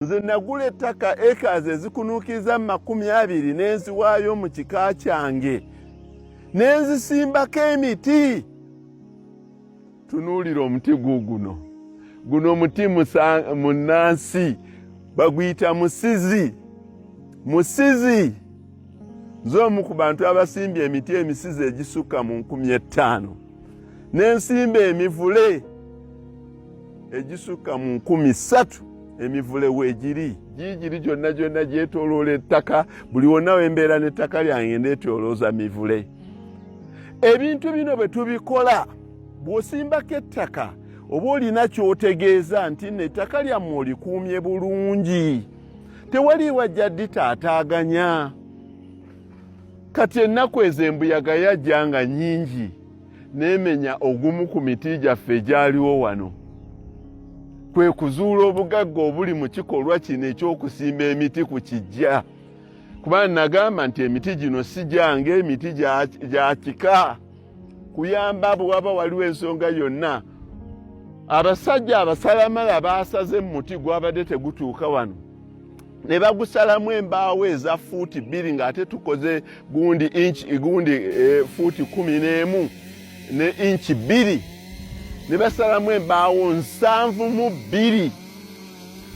nze nagula ettaka acres ezikunuukiriza mu makumi abiri ne nziwaayo mu kika kyange ne nzisimbako emiti tunuulira omuti guuguno guno muti munnansi baguyita musizi musizi nze omu ku bantu abasimbye emiti emisizi egisukka mu nkumi ettaano ne nsimba emivule egisukka mu nkumi ssatu emivule weegiri giigiri gyonna gyonna gyetoloola ettaka buli wonna wembeera n'ettaka lyange ndeetolooza mivule ebintu bino bwe tubikola bw'osimbako ettaka oba olina ky'otegeeza nti no ettaka lyammwe olikuumye bulungi tewali wajja ditaataaganya kati ennaku ezo embuyaga yajja nga nyingi n'emenya ogumu ku miti gyaffe egyaliwo wano kwe kuzuula obugagga obuli mu kikolwa kino eky'okusimba emiti ku kijja kuba nagamba nti emiti gino si gyange emiti gya kika kuyamba bwe waba waliwo ensonga yonna abasajja abasalamala baasaze mu muti gwabadde tegutuuka wano ne bagusalamu embaawo eza fuuti bbiri ng'ate tukoze gundi inch gundi e, fuuti kumi n'emu ne inchi bbiri ne basalamu embaawo nsanvu mu bbiri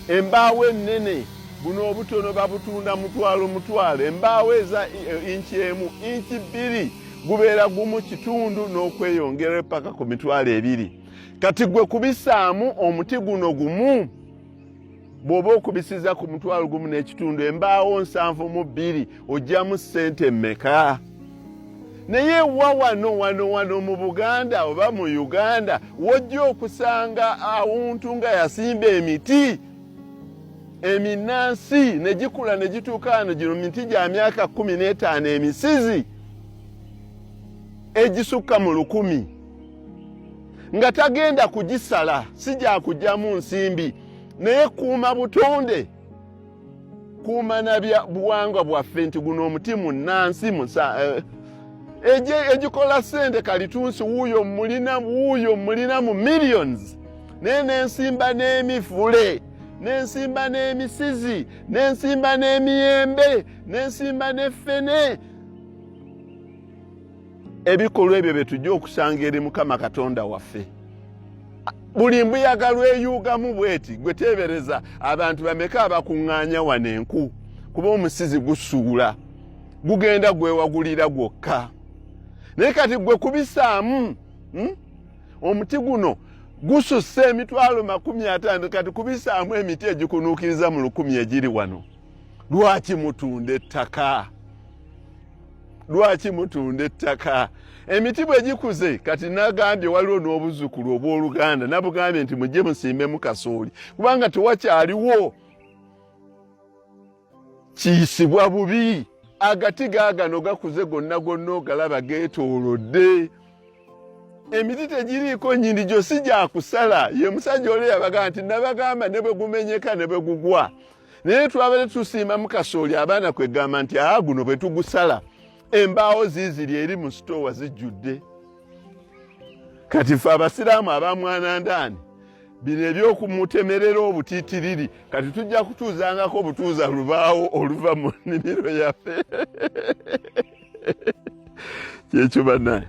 embaawo ennene buno obutono babutunda mutwalo mutwalo embaawo eza e, inchi emu inchi bbiri gubeera gumu kitundu n'okweyongera epaka ku mitwalo ebiri kati gwe kubisaamu omuti guno gumu bw'oba okubisiza ku mutwalo gumu n'ekitundu embaawo nsanvu mu bbiri ojjamu ssente mmeka naye wa wano wano wano mu buganda oba mu uganda wojja okusanga awuntu nga yasimba emiti eminansi ne gikula ne gituuka wano gino miti gya myaka kumi n'etaano emisizi egisukka mu lukumi nga tagenda kugisala si gyakugyamu nsimbi naye kuuma butonde kuuma na buwangwa bwaffe nti guno omuti munansi eh, egikola sente kalitunsi wuuyo mulina wuuyo mulina mu millions naye nensimba n'emivule nensimba n'emisizi nensimba n'emiyembe nensimba n'effene ebikolwa ebyo bye tujja okusanga eri mukama katonda waffe buli mbuyaga lweyuugamu bweti gwe teebereza abantu bameka abakuŋŋaanya wano enku kuba omusizi gusuula gugenda gwewagulira gwokka naye kati gwe kubisaamu hmm? omuti guno gususse emitwalo makumi ataano kati kubisaamu emiti egikunuukiriza mu lukumi egiri wano lwaki mutunda ettaka lwaki mutunda ettaka emiti bwe gikuze kati nagambye waliwo n'obuzzukulu obw'oluganda nabugambye nti mujje musimbemu kasooli kubanga tewakyaliwo kiyisibwa bubi agati gaagano gakuze gonna gonna ogalaba geetoolodde emiti tegiriiko nyini gyosi gyakusala ye musajja oli yabagamba nti nabagamba ne bwe gumenyeka ne bwe gugwa naye twabere tusiimamu kasooli abaana kwegamba nti aa guno bwe tugusala embaawo ziiziri eri mu sitoowa zijjudde kati fe abasiraamu abamwanandaani bino ebyokumutemerera obutitiriri kati tujja kutuuzangako obutuuza lubaawo oluva mu nnimiro yaffe kyekyo banaye